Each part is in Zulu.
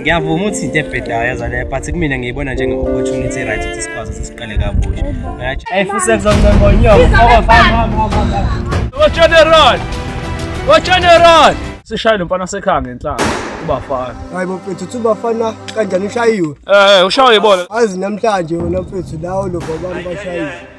ngiyavuma ukuthi into ebhedayo yazale but kumina ngiyibona njenge-opportunity right ukuthi sikwazi ukuthi siqale kabusha eyi futhi sekuzombembonyokowafanewacheneron wacheneron sishaye lo mfana wasekhaya ngenhlanga ubafana hayi bafethu uthi ubafana kanjani ushayiwe um ushawe ibona azi namhlanje wena mfethu lawo lo babani bashayiwe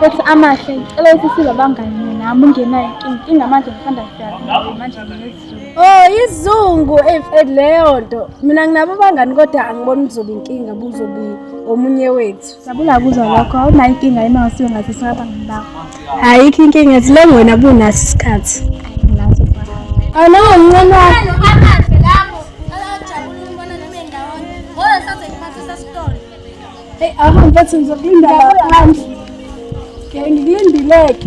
Futhi amahle ngicela ukuthi sibe abangani nami ungenayo inkinga manje ngisanda kufika manje Oh izungu eh, eh, leyo nto mina nginabo bangani kodwa angiboni uzobe inkinga buzobe omunye wethu. Sabula kuzwa lokho awunayo inkinga yima ngasiwe ngathi saba ngibakho. Ayikho inkinga ethi le wena bunaso isikhathi. Ayinaso. Anawo mncane wakho. Hey, ahamba bathi ngizokulinda laphandle. Ngeke ngikulindileke.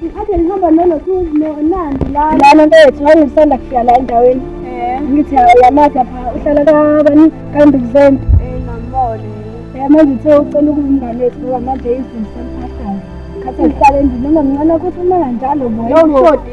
Ngithathe ngihamba nalo nandi lana. Lana mfethu hayi ngisanda kufika la endaweni. Eh. Ngithi yamatha pha uhlala kabani kambe kuzeni. Eh ngambone. Eh manje uthe ucela ukungane ethu ngoba manje izinto semphathana. Khathi ngihlale endini noma mncane ukuthi uma kanjalo boy. Yawushodi.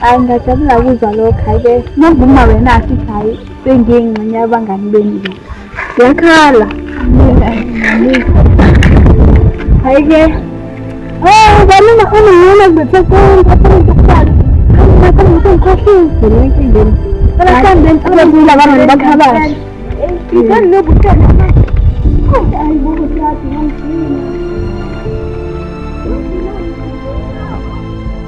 hayi ngajabula kuzwa lokho hayi-ke nokuvuma wena asithi hayi sengiye ngxenye yabangani benu le yakhala hayi-ke o banina unimina kubethe konke afanekufana ngikhohliwe enkingeni abakhula abantu bakhabashe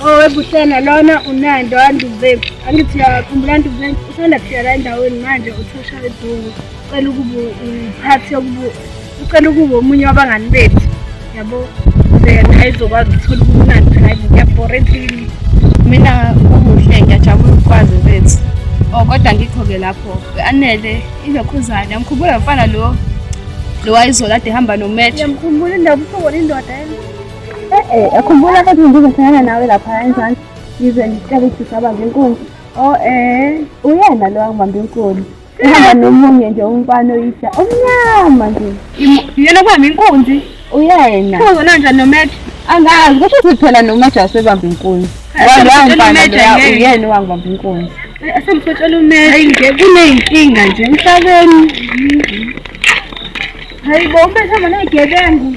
Owebuhlena oh, lona unando anduzeni angithi yakhumbula anduzeni usanda kufika la endaweni manje uthusha edungu ucela ukuba uphathi yokuba ucela ukuba omunye wabangani bethu yabo then ayizokwazi ukuthola ubumnandi phela ngiyabhora endlini mina umuhle ngiyajabula ukukwazi bethu o oh, kodwa ngikho-ke lapho anele ilokhuzane amkhumbula mfana lo lo wayizola ade hamba nometho yamkhumbula indabuhlobona indoda Eh, eh, khumbula ukuthi ngizohlangana nawe lapha enzansi ngize ngicela ukuthi usabaze inkunzi o oh, eh uyena lo wangibamba inkulu uhamba nomunye nje umfana oyisha omnyama nje yena kubamba inkunzi uyena uzona nje nomeja angazi kusho ukuthi phela nomeja wasebamba inkunzi uyena owangibamba inkunzi eh, asemfotshela umeja kuneyinkinga nje emhlabeni hayi bo umbehlama neyigebengu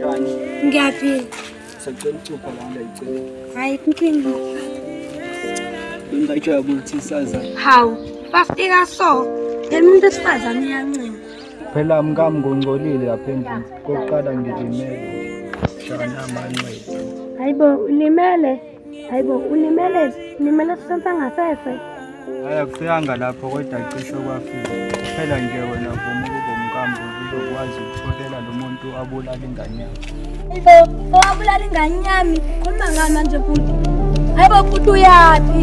Yani. Ngiyaphila. Sacela ucupha la ngiyicela. Hayi inkinga. Ngingajabula ukuthi saza. Hawu, bafika so. Lemuntu esifazane uyancinga. Phela mkami ngongcolile lapha endlini. Kokuqala ngilimele. Shana manqwethu. Hayibo ulimele? Hayibo ulimele ulimele sisensa ngasese. Hayi akufika lapho kodwa cishe kwafika. Phela nje wena vuma ukuba umkambo uzokwazi ukutholela lo muntu abulala ingane yakho. Hayibo owabulala ingane yami khuluma ngami manje futhi. Hayibo futhi uyaphi?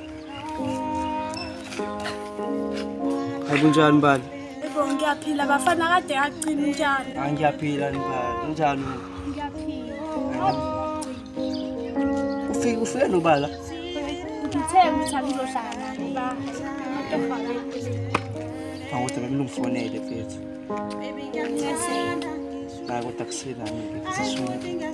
Akunjani mbali? Yebo ngiyaphila bafana kade yaqina njani? Hayi ah, ngiyaphila mbali. Unjani? Ngiyaphila. Ufike ufike nobala? Ngithe ukuthi angizohlala naye ba. Awuthi bekulungifonele mfethu. Baby ngiyakuthanda. Bakuthi akusina mina.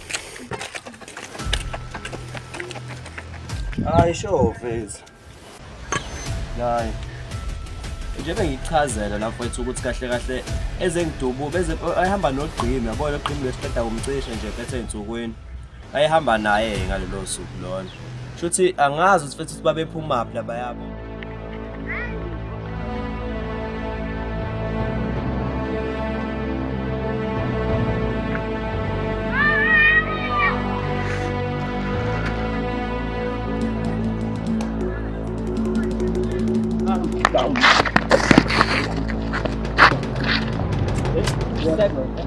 Hayi sho vezi. Hayi. Nje bengichazela la mfowethu ukuthi kahle kahle ezengidubu beze ayihamba nogqimi yabona ogqimi lesiqeda kumcisha nje phethe ensukwini. Ayihamba naye ngalelo suku lona. Shuthi angazi ukuthi futhi babephuma phi laba yabo. Bye.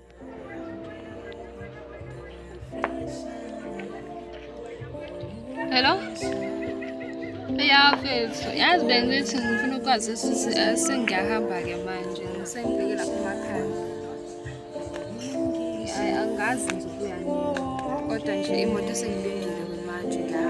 Hello? Eyafethu, yazi bengithi ngifuna ukwazi eh, sengiyahamba-ke manje, ngisengibheke lapha emakhaya. Hayi, angazi nje ukuya nini, kodwa nje imoto sengilindile manje la.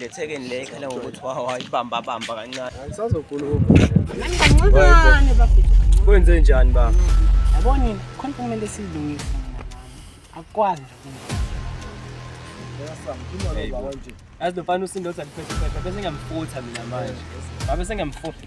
le thekeni le ikhala ngokuthi wayibamba bamba kancane angisazokhuluma nani kancane bafethu kwenze njani ba yabona khona kumele silungise akwazi yazi lofana usindothi aliphethe phethe bese ngamfutha mina manje babe sengamfutha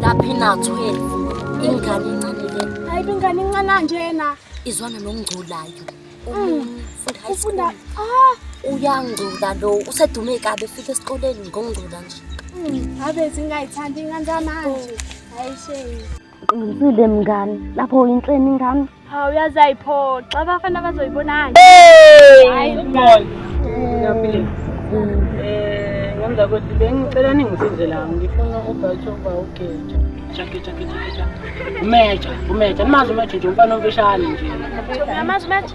laphi na 12 ingane incane le hayi ingane incane njena izwana nongculayo mm. ufunda ah uyangcula lo usedume kabe fika esikoleni ngongcula nje mm. abe zingayithandi ingane zamanje oh. hayi shame Qinisile mngani, lapho uyinhleni ingane. Hawu uyazi ayiphoxa abafana bazoyibonani. Hayi boy. Ngiyaphila. Eh ngemva kokuthi bengicela ningisize la ngifuna ubhathi oba ugeja. Jake jake jake jake. Umeja, umeja. Nimazi umeja nje umfana omfishane nje. Namazi umeja.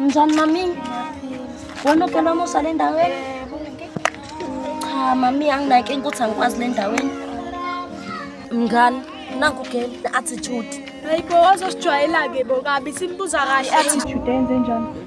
Njani mami? Wena phela umusa le ndaweni? Cha mami anginaki ukuthi angikwazi le ndaweni. Mngani, nangu girl attitude. Hayibo wazosijwayela-ke bo kabi simbuza kahle attitude enze njani?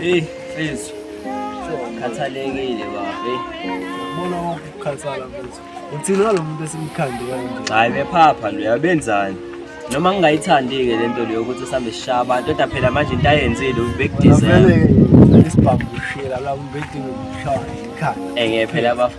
Hey, Fezi. Khathalekile babe. Ubona ukukhathala mfethu. Uthini walo muntu esimkhandi kanje? Hayi bephapha lo yabenzani? Noma ngingayithandi-ke le nto leyo ukuthi sihambe sishaya abantu kodwa phela manje into ayenzile ubekudizela. Vele-ke isibhamu ushila la umbedini ushaya ikhaya. Enge phela bafo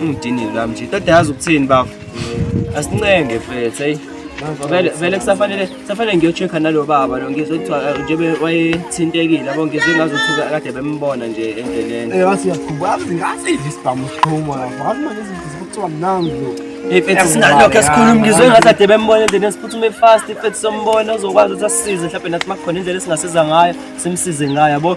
Ungidinile lami nje. Tata yazi ukuthini bafo. Asincenge mfethu hey. Vele vele kusafanele kusafanele ngiyochecka nalo baba lo ngizwe kuthiwa eh, njebe wayethintekile yabo ngizwe ngazothuka kade bembona nje endleleni. Eh wasi yakhuba azi ngasi isibhamu siqhuma lapho. Wathi manje izikuthiwa nangu lo. Hey mfethu sinalokho esikhuluma ngizwe ngathi ade bembona endleleni siphuthume fast mfethu sombona uzokwazi ukuthi asisize mhlawumbe nathi makukhona indlela esingasiza ngayo simsize ngayo yabo.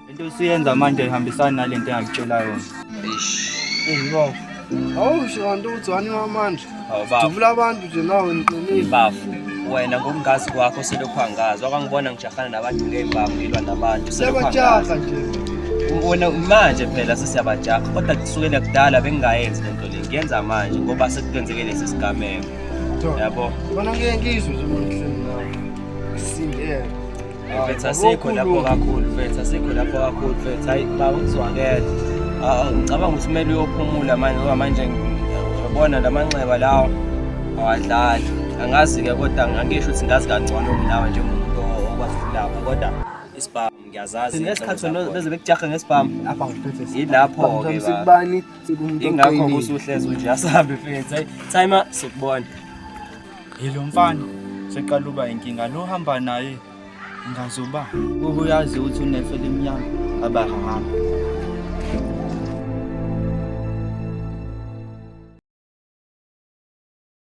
Into esiyenza manje ihambisana nale nto engakutshela yona. Eish. Hey baba. Awusho kanti uthi wani wamandla. Hawu baba. Dubula abantu nje nawe ngiqinile. Bafu. Wena ngokungazi kwakho selokhu angazi. Wakangibona ngijahana nabantu ngey'bhamu ngilwa nabantu. selokhu angazi. Sebajaha nje. Wena manje phela sesiyabajaha kodwa kusukela kudala bengingayenzi lento le. Ngiyenza manje ngoba sekukwenzeke lesi sigameko. Yabo. Bona ngeke ngizwe nje manje nawe. Singeke. Mfethu asikho lapho kakhulu mfethu asikho lapho kakhulu mfethu hayi baba ngizwakele ah, ngicabanga ukuthi kumele uyophumula manje ngoba manje ngibona la manxeba lawo awadlali angazi-ke kodwa angisho ukuthi ngazi kangcono kunawe njengomuntu okwazi ukulapha kodwa isibhamu ngiyazazi ngesikhathi wena beze bekujahe ngesibhamu apha ngiphethe yilapho-ke sikubani ingakho kusuhlezi unje asahambe mfethu hayi time sikubona Yilo mfana seqala uba inkinga lo hamba naye ngazoba ubuyazi ukuthi unefe limnyama abahamba